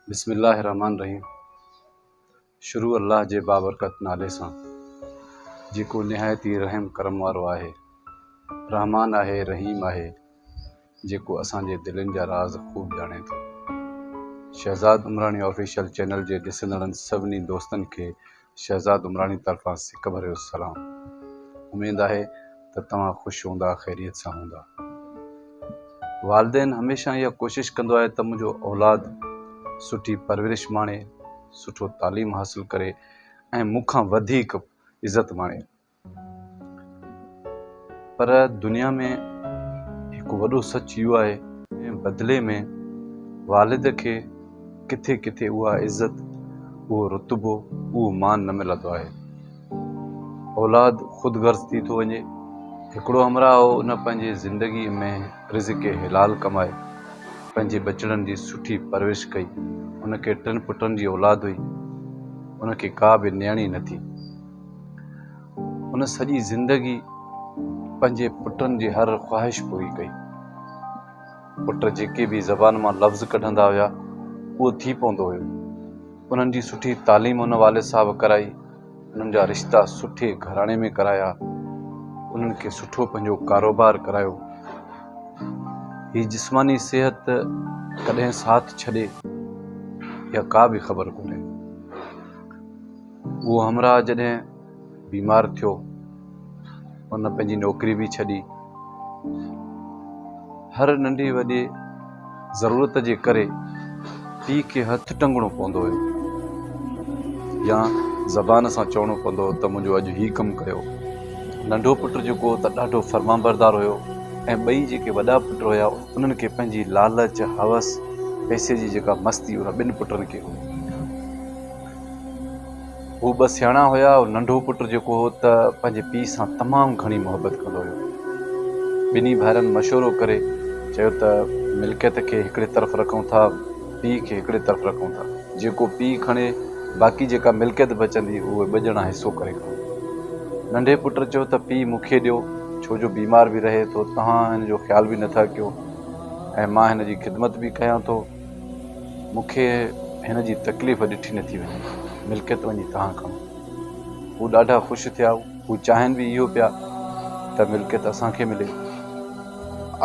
بسم الله الرحمٰن الرحيم شروع الله جي بابرڪت نالي سان جيڪو نهايت ئي رحم ڪرم وارو آهي رحمان آهي رحيم آهي جيڪو اسان جي دلين جا راز خوب ڄاڻي ٿو شهزاد عمراڻي آفيشل چينل جي ڏسندڙن سڀني دوستن کي شهزاد عمراڻي طرفان سڪ ڀريو سلام. اميد آهي ته توهان خوش هوندا خيريت سان هوندا. والدين هميشه اها ڪوشش ڪندو آهي ته منهنجو اولاد سٺي پرورش ماڻي، سٺو تعليم حاصل ڪري ۽ مون کان وڌيڪ عزت ماڻي. پر دنيا ۾ هڪ وڏو سچ اهو آهي ۽ بدلي ۾ والد کي ڪٿي ڪٿي اها عزت، اهو رتبو، اهو مان نه ملندو آهي. اولاد خود غرض ٿي ٿو وڃي. هڪڙو همراهه هو ان پنهنجي زندگي ۾ رزق حلال ڪمائي پنهنجي ٻچڙن جي سٺي پرورش ڪئي. ان کي ٽن پٽن جي اولاد هئي. ان کي ڪا به نيڻي نه ٿي. هن سڄي زندگي پنهنجي پٽن جي هر خواهش پوري ڪئي. پٽ جيڪي به زبان مان لفظ ڪڍندا هيا اهو ٿي پوندو هيو. انهن جي سٺي تعليم هن والد صاحب ڪرائي، انهن جا رشتا سٺي گهراڻي ۾ ڪرايا، انهن کي سٺو پنهنجو ڪاروبار ڪرايو. هي جسماني صحت ڪڏهن ساٿ ڇڏي اها ڪا به خبر ڪونهي. اهو همراهه جڏهن بيمار ٿيو ان پنهنجي نوڪري به ڇڏي هر ننڍي وڏي ضرورت جي ڪري پي کي هٿ ٽنگڻو پوندو هيو يا زبان سان چوڻو پوندو ته منهنجو اڄ هي ڪم ڪيو ننڍو پٽ جيڪو ته ڏاڍو فرمان بردار هيو ۽ ٻئي جيڪي وڏا پٽ هيا انهن کي پنهنجي لالچ هوس پئسي جي جيڪا مستي ان ٻن پٽن کي هئي هو ٻه سياڻا هيا، ننڍو پٽ جيڪو هو ته پنهنجي پيء سان تمام گهڻي محبت ڪندو هيو. ٻنهي ڀائرن مشورو ڪري چيو ته ملڪيت کي هڪڙي طرف رکون ٿا پيء کي هڪڙي طرف رکون ٿا. جيڪو پيء کڻي باقي جيڪا ملڪيت بچندي اهي ٻه ڄڻا حصو ڪري کڻون. ننڍي پٽ چيو ته پيء مون کي ڏيو ڇو جو بيمار به رهي ٿو تهان هن جو خيال به نه ٿا ڪيو ۽ مان هن جي خدمت به ڪيان ٿو. مون کي هن جي تڪليف ڏٺي نه ٿي وڃي، ملڪيت وڃي توهان کڻو. هو ڏاڍا خوش ٿيا، هو چاهين به اهو پيا ته ملڪيت اسان کي ملي.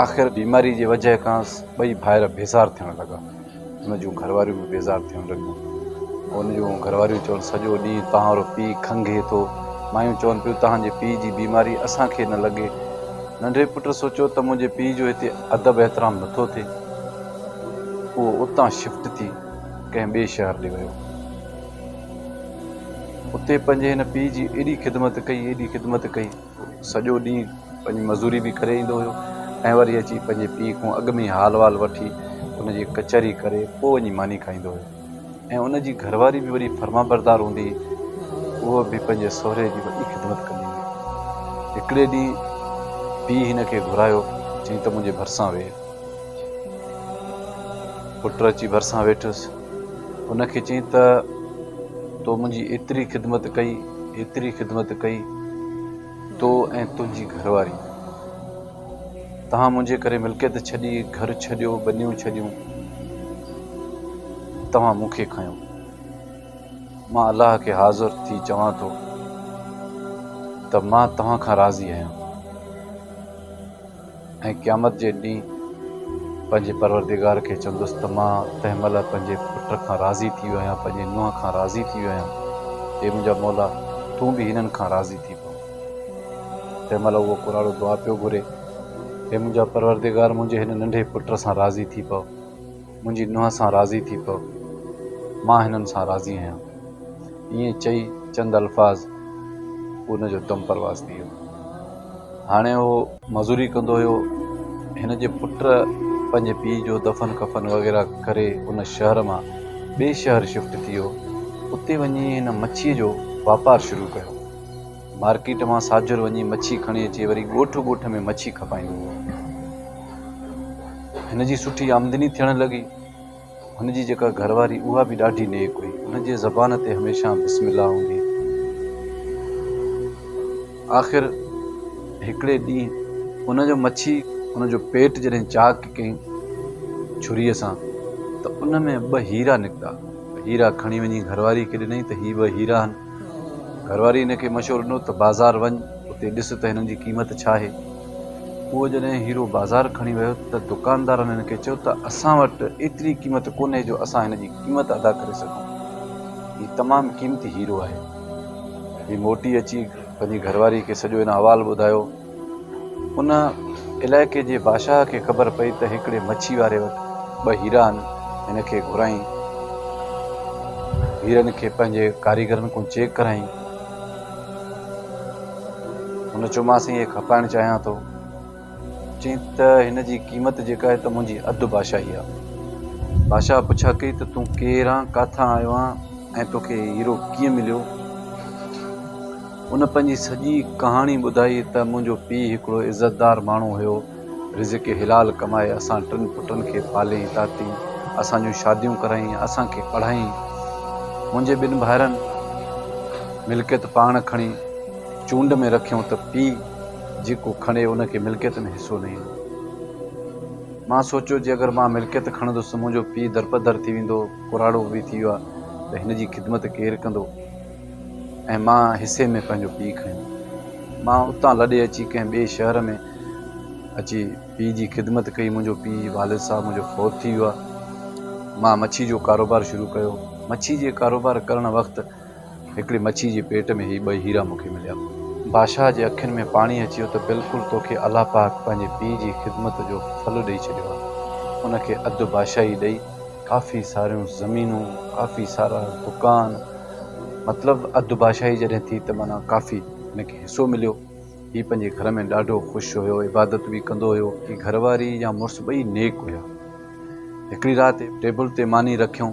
آخر بيماري جي وجهه کانئس ٻئي ڀائر بيزار ٿيڻ لڳا. هن جون گهرواريون به بيزار ٿيڻ لڳيون. هن جون گهرواريون چون سڄو ڏينهن توهان رو پيء کنگهي ٿو. مايون چون پيون توهان جي پيء جي بيماري اسان کي نه لڳي. ننڍي پٽ سوچيو ته منهنجي پيء جو هتي ادب احترام نه ٿو ٿئي. اهو اتان شفٽ ٿي ڪنهن ٻئي شهر ڏي ويو. اتي پنهنجي هن پيء جي ايڏي خدمت ڪئي، ايڏي خدمت ڪئي، سڄو ڏينهن پنهنجي مزوري به ڪري ايندو هيو ۽ وري اچي پنهنجي پيء کان اڳ ۾ ئي حال وال وٺي ان جي ڪچهري ڪري پوء وڃي ماني کائيندو هيو. ۽ ان جي گهرواري به وڏي فرمانبردار هوندي هئي. هوء به پنهنجي سهري جي وڏي خدمت ڪندي هئي. هڪڙي ڏينهن پيء هن کي گهرايو، چيائين ته منهنجي ڀرسان ويهه. پٽ اچي ڀرسان ويٺس. هن کي چيائين ته تو منهنجي ايتري خدمت ڪئي، ايتري خدمت ڪئي، تو ۽ تنهنجي گهرواري. توهان منهنجي ڪري ملڪيت ڇڏي، گهر ڇڏيو، ٻنيون ڇڏيون، توهان مون کي کنيو. مان الله کي حاضر ٿي چوان ٿو ته مان توهان کان راضي آهيان ۽ قيامت جي ڏينهن پنهنجي پروردگار کي چوندس ته مان تنهن مهل پنهنجي پٽ کان راضي ٿي ويو آهيان، پنهنجي نونهن کان راضي ٿي ويو آهيان. اي منهنجا مولا! تون به هنن کان راضي ٿي پو. تنهن مهل اهو ڪراڙو دعا پيو گهري، اي منهنجا پروردگار منهنجي هن ننڍي پٽ سان راضي ٿي پو، منهنجي نونهن سان راضي ٿي پو، مان هنن سان راضي آهيان. ائين چئي چند الفاظ ان جو دم پرواز ٿي ويو. هاڻي اهو مزوري ڪندو هيو، هن جي پٽ پنهنجي پيء جو دفن ڪفن وغيره ڪري ان شهر مان ٻئي شهر شفٽ ٿي ويو، اتي وڃي هن مڇيء جو واپار شروع ڪيو. مارڪيٽ مان ساجر وڃي مڇي کڻي اچي وري ڳوٺ ڳوٺ ۾ مڇي کپائيندو هو هن جي سٺي آمدني ٿيڻ لڳي هن جي جيڪا گهر واري اها به ڏاڍي نيڪ هئي هن جي زبان تي هميشه بسم الله هوندي آخر هڪڙي ڏينهن ان جو مڇي ان جو پيٽ جڏهن چاڪ ڪيائين ڇري سان ته ان ۾ ٻه هيرا نڪتا هيرا کڻي وڃي گهر واري کي ڏنائين ته هي ٻه هيرا آهن گهرواري هن کي مشورو ڏنو ته بازار وڃ، اتي ڏس ته هنن جي قيمت ڇا آهي. پوء جڏهن هيرو بازار کڻي ويو ته دڪاندارن هن کي چيو ته اسان وٽ ايتري قيمت ڪونهي جو اسان هن جي قيمت ادا ڪري سگهون. هي تمام قيمتي هيرو آهي. هي موٽي اچي پنهنجي گهرواري کي سڄو هن احوال ٻڌايو. ان علائقي جي بادشاهه کي خبر پئي ته هڪڙي مڇي واري وٽ ٻه هيرا آهن، هن کي گهرائين. هيرن کي پنهنجي ڪاريگرن ڪون چيڪ ڪرائين. هن چيومانس اهي کپائڻ چاهيان ٿو. چيائين ته هن جي قيمت جيڪا آهي ته منهنجي اڌ بادشاهي آهي. بادشاهه پڇا ڪئي ته تون ڪير آن، ڪاٿان آيو آن ۽ توکي هي هيرو ڪيئن مليو؟ ان پنهنجي سڄي ڪهاڻي ٻڌائي ته منهنجو پيء هڪڙو عزتدار ماڻهو هيو، رزق حلال ڪمائي اسان ٽن پٽن کي پاليائين تاتي، اسان جون شاديون ڪرايائين، اسان کي پڙهايائين. منهنجي ٻن ڀائرن ملڪيت پاڻ کڻي چونڊ ۾ رکيائون ته پيء جيڪو کڻي ان کي ملڪيت ۾ حصو نه ايندو. مان سوچيو جي اگر مان ملڪيت کڻندس ته منهنجو پيء درپدر ٿي ويندو، ڪراڙو به ٿي ويو آهي ته هن جي خدمت ڪير ڪندو؟ ۽ مان حصي ۾ پنهنجو پيء کنيو. مان اتان لڏي اچي ڪنهن ٻئي شهر ۾ اچي پيء جي خدمت ڪئي. منهنجو پيء جي والد صاحب منهنجو فوت ٿي ويا. مان مڇي جو ڪاروبار شروع ڪيو. مڇي جي ڪاروبار ڪرڻ وقت هڪڙي مڇي جي پيٽ ۾ هي ٻئي هيرا مون کي مليا. بادشاهه جي اکين ۾ پاڻي اچي ويو ته بلڪل توکي الله پاڪ پنهنجي پيء جي خدمت جو ڦل ڏئي ڇڏيو آهي. ان کي اڌ بادشاهي ڏئي. ڪافي ساريون زمينون، ڪافي سارا دڪان، مطلب اڌ بادشاهي جڏهن ٿي ته معنيٰ ڪافي هن کي حصو مليو. هي پنهنجي گهر ۾ ڏاڍو خوش هيو، عبادت به ڪندو هيو. هي گهر واري يا مڙس ٻئي نيڪ هيا. هڪڙي رات ٽيبل تي ماني رکيون،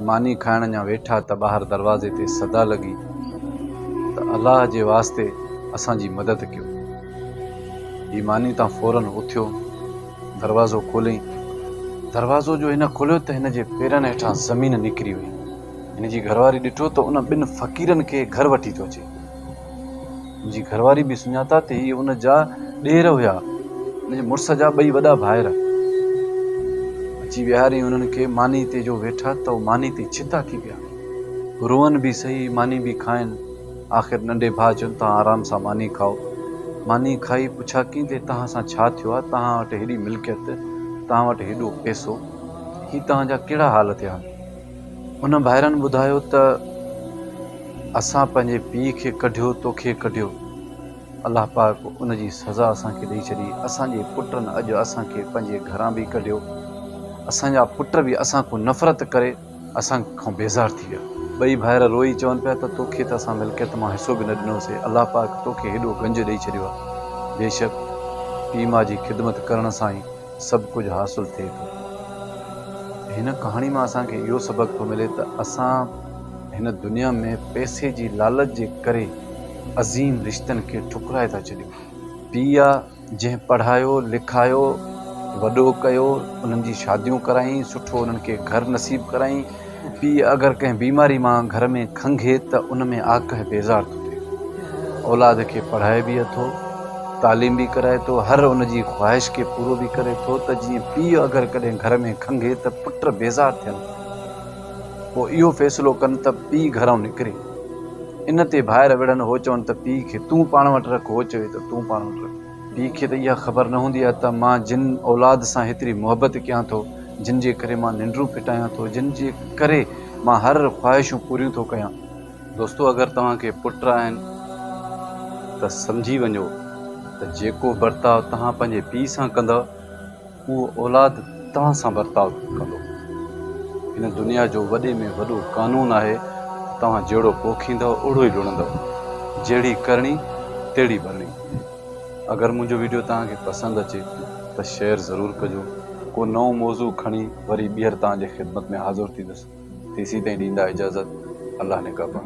ماني کائڻ اڃا ويٺا ته ٻاهر دروازي تي صدا لڳي ته الله جي واسطي اسان جي مدد ڪيو. هي ماني تان فوراً اٿيو. دروازو کوليئين. دروازو جو هن کوليو ته هن جي پيرن هيٺان زمين نڪري وئي. هن جي گهرواري ڏٺو ته ان ٻن فقيرن کي گهر وٺي ٿو اچي. هن جي گهرواري به سڃاتا ته هي ان جا ڏير هيا، هن جي مڙس جا ٻئي وڏا ڀائر. اچي ويهاريئين انهن کي ماني تي جو ويٺا ته ماني تي ڇتا ٿي پيا. روئن به سهي، ماني به کائن. آخر ننڍي ڀاء چيو توهان آرام سان ماني کائو. ماني کائي پڇاڪين تي توهان سان ڇا ٿيو آهي؟ توهان وٽ هيڏي ملڪيت، توهان وٽ هيڏو پئسو، هي توهان جا ڪهڙا حال ٿيا؟ انهن ڀائرن ٻڌايو ته اسان پنهنجي پيء کي ڪڍيو، توکي ڪڍيو. الله پاڪ ان جي سزا اسان کي ڏئي ڇڏي. اسان جي پٽن اڄ اسان کي پنهنجي گهران به ڪڍيو. اسان جا پٽ به اسان کان نفرت ڪري. اسان کان بيزار ٿي ويا. ٻئي ڀائر روئي چون پيا ته توکي ته اسان ملڪيت مان حصو به نه ڏنوسي، الله پاڪ توکي هيڏو گنج ڏئي ڇڏيو آهي. بيشڪ پيء ماء جي خدمت ڪرڻ سان ئي سڀ ڪجهه حاصل ٿئي ٿو. هن ڪهاڻي مان اسان کي اهو سبق ٿو ملي ته اسان هن دنيا ۾ پئسي جي لالچ جي ڪري عظيم رشتن کي ٺڪرائي ٿا ڇڏيون. پيء جنهن پڙهايو لکايو وڏو ڪيو انهن جي شاديون ڪرايائين سٺو انهن کي گهر نصيب ڪرايائين پيء اگر ڪنهن بيماري مان گهر ۾ کنگهي ته ان ۾ آڪهه بيزار ٿو ٿئي اولاد کي پڙهائي به اٿو تعليم به ڪرائي ٿو هر ان جي خواهش کي پورو به ڪري ٿو ته جيئن پيء اگر ڪڏهن گهر ۾ کنگهي ته پٽ بيزار ٿين ٿا پوء اهو فيصلو ڪن ته پيء گهرئون نڪري. ان تي ڀائر وڙهن هو چون ته پيء کي تون پاڻ وٽ رک هو چوي ته تون پاڻ وٽ رک. پيء کي ته اها خبر نه هوندي آهي ته مان جن اولاد سان هيتري محبت ڪيان ٿو، جن جي ڪري مان ننڊون ڦٽايان ٿو، جن جي ڪري مان هر خواهشون پوريون ٿو ڪيان. دوستو اگر توهان کي پٽ آهن ته سمجهي وڃو ته جيڪو برتاء توهان پنهنجي پيء سان ڪندؤ، اهو اولاد توهان سان برتاء ڪندو. هن دنيا جو وڏي ۾ وڏو قانون آهي ته توهان جهڙو پوکيندؤ اهڙو ئي لڻندؤ. جهڙي ڪرڻي تهڙي ڀرڻي. اگر منهنجو ويڊيو توهان کي پسند اچي ته شيئر ضرور ڪجو. ڪو نئون موضوع کڻي وري ٻيهر توهان جي خدمت ۾ حاضر ٿيندس. تيسين تائين ڏيندا اجازت. الله نگهبان.